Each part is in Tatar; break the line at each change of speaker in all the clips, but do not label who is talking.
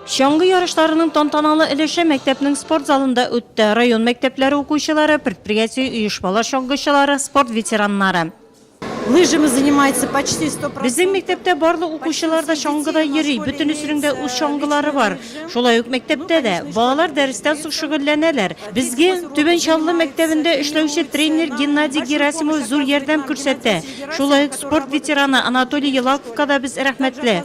Чаңгы ярышларының тантаналы өлеше мәктәпнең спорт залында үтте. Район мәктәпләре укучылары, предприятие, оешмалар чаңгычылары, спорт ветераннары. Лыжами
занимается почти 100 процентов. Безнең мәктәптә барлык
укучылар да чаңгыда йөри, бөтенесенең дә үз чаңгылары бар. Шулай ук мәктәптә дә. Балалар дәрестән соң шөгыльләнәләр. Безгә Түбән Чаллы мәктәбендә эшләүче тренер Геннадий Герасимов зур ярдәм күрсәтә. Шулай ук спорт ветераны Анатолий Елаковка да без рәхмәтле.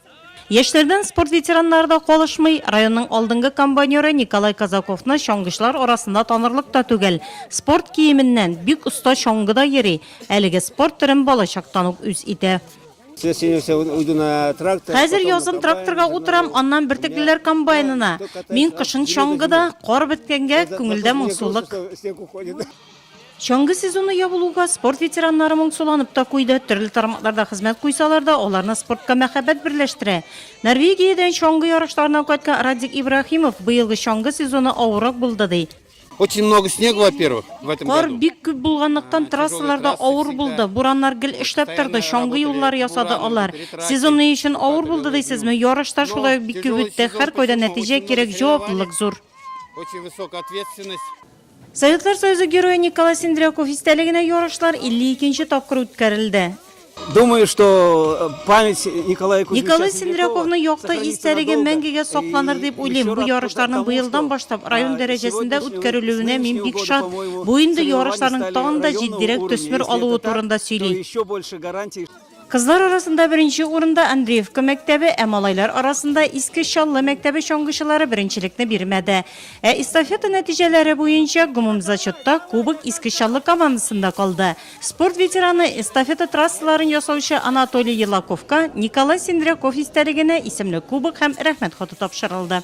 Яшьләрдән спорт ветераннары да калышмый. Районның алдынгы комбайнеры Николай Казаковны чаңгычылар арасында танырлык та түгел. Спорт киеменнән, бик оста чаңгыда йөри. Әлеге спорт төрен балачактан ук үз итә. Хәзер язын тракторга утырам, аннан бөртеклеләр комбайнына. Мин кышын чаңгыда, кар беткәнгә, күңелдә моңсулык. Чаңгы сезоны ябылуга, спорт ветераннары моңсуланып та куйды. Төрле тармакларда хезмәт куйсалар да, аларны спортка мәхәббәт берләштерә. Норвегиядән чаңгы ярышларыннан кайткан Радик Ибраһимов быелгы чаңгы сезоны авыррак булды, ди. Очень много снега,
во-первых, в этом году. Кар бик күп булганлыктан,
трассаларда авыр булды. Бураннар гел эшләп торды, чаңгы юллары ясады алар. Сезон ни өчен авыр булды дисезме? Ярыш та шулай ук бик күп үтте. Һәркайда нәтиҗә кирәк, җаваплылык зур. Очень высокая
ответственность. Советлар
Союзы Герое Николай Сендряков истәлегенә ярышлар 52 нче тапкыр үткәрелде. Думаю, что
э, память Николая Кузьмича Николай Сендряковның
якты истәлеге мәңгегә сакланыр дип уйлыйм. Бу ярышларның быелдан башлап район дәрәҗәсендә үткәрелүенә мин бик шат. Бу инде ярышларның тагын да җитдирәк төсмер алуы турында сөйли. Кызлар арасында беренче урында Андреевка мәктәбе, ә малайлар арасында Иске Чаллы мәктәбе чаңгычылары беренчелекне бирмәде. Ә эстафета нәтиҗәләре буенча гомумзачетта кубок Иске Чаллы командасында калды. Спорт ветераны, эстафета трассаларын ясаучы Анатолий Елаковка Николай Сендряков истәлегенә исемле кубок һәм Рәхмәт хаты тапшырылды.